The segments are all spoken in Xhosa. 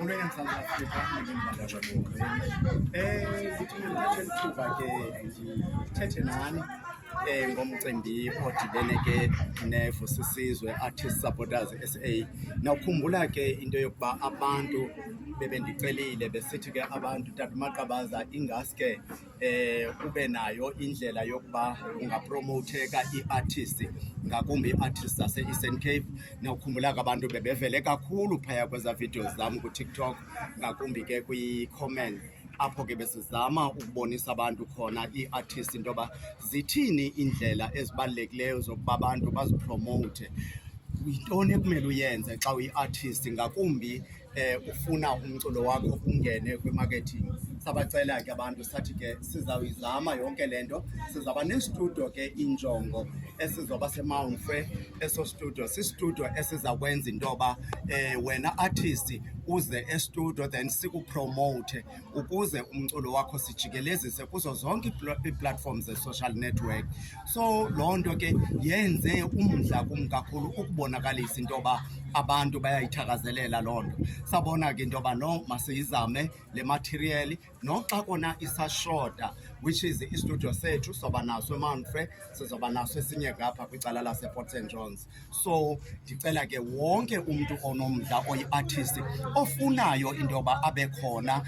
Unene mzansi Afrika ndingambaza kuwo. Eh zithi ngithathe ithuba ke ndithethe nani eh ngomcimbi odibene ke nefu sisizwe Artist Supporters SA. Nawukhumbula ke into yokuba abantu bebendicelile besithi ke abantu Tata Maqabaza ingaske eh ube nayo indlela yokuba ungapromotheka iartist ngakumbi iartist zase Eastern Cape nawukhumbula abantu bebevele kakhulu phaya kweza videos zam ku TikTok ngakumbi ke kwi comment apho ke besizama ukubonisa abantu khona iartist into yoba zithini indlela ezibalulekileyo zokuba abantu bazipromote yintoni ekumele uyenze xa uyiartist ngakumbi eh ufuna umculo wakho ungene kwi-marketing sabacela ke abantu sathi ke sizawuyizama yonke le nto sizawuba nestudio ke injongo esizoba semount free eso studio sistudio esizakwenza into yoba um wena artist uze estudio then sikupromote ukuze umculo wakho sijikelezise kuzo zonke iiplatform ze-social network so loo nto ke yenze umdla kum kakhulu ukubonakalisa into yoba abantu bayayithakazelela loo nto sabona ke into yoba no masiyizame le material noxa kona isashota which is istudio sethu soba naso emanfre sizoba naso esinye ngapha kwicala laseport st johns so ndicela ke wonke umntu onomdla oyi-artist ofunayo into yoba abe khona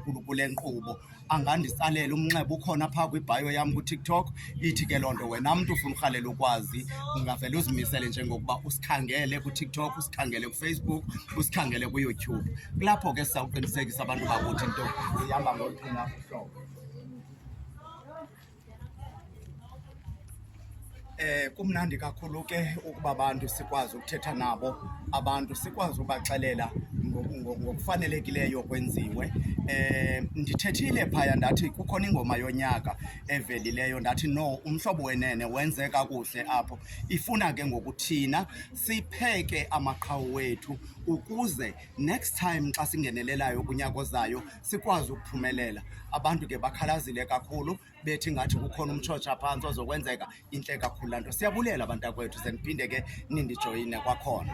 um kule nkqubo anganditsalela umnxeba ukhona phaa kwibhayo yam kutiktok ithi ke loo nto wena mntu ufuna urhalela ukwazi ungavele uzimisele njengokuba usikhangele kutiktok usikhangele kufacebook usikhangele kuyoutube kulapho ke sisawuqinisekisa abantu bakuthi into ihamba ngoluphi na uhlobo Eh kumnandi kakhulu ke ukuba abantu sikwazi ukuthetha nabo, abantu sikwazi ubaxelela ngokufanelekileyo kwenziwe. Eh ndithethile phaya ndathi kukhona ingoma yonyaka evelileyo ndathi no umhlobo wenene wenze kakuhle apho. Ifuna ke ngokuthina sipheke amaqhawe wethu ukuze next time xa singenelelayo kunyaka ozayo sikwazi ukuphumelela. Abantu ke bakhalazile kakhulu bethi ngathi kukhona umtshotsha phantsi ozokwenzeka intle kakhulu laa nto. Siyabulela bantakwethu, ze niphinde ke nindijoyine kwakhona.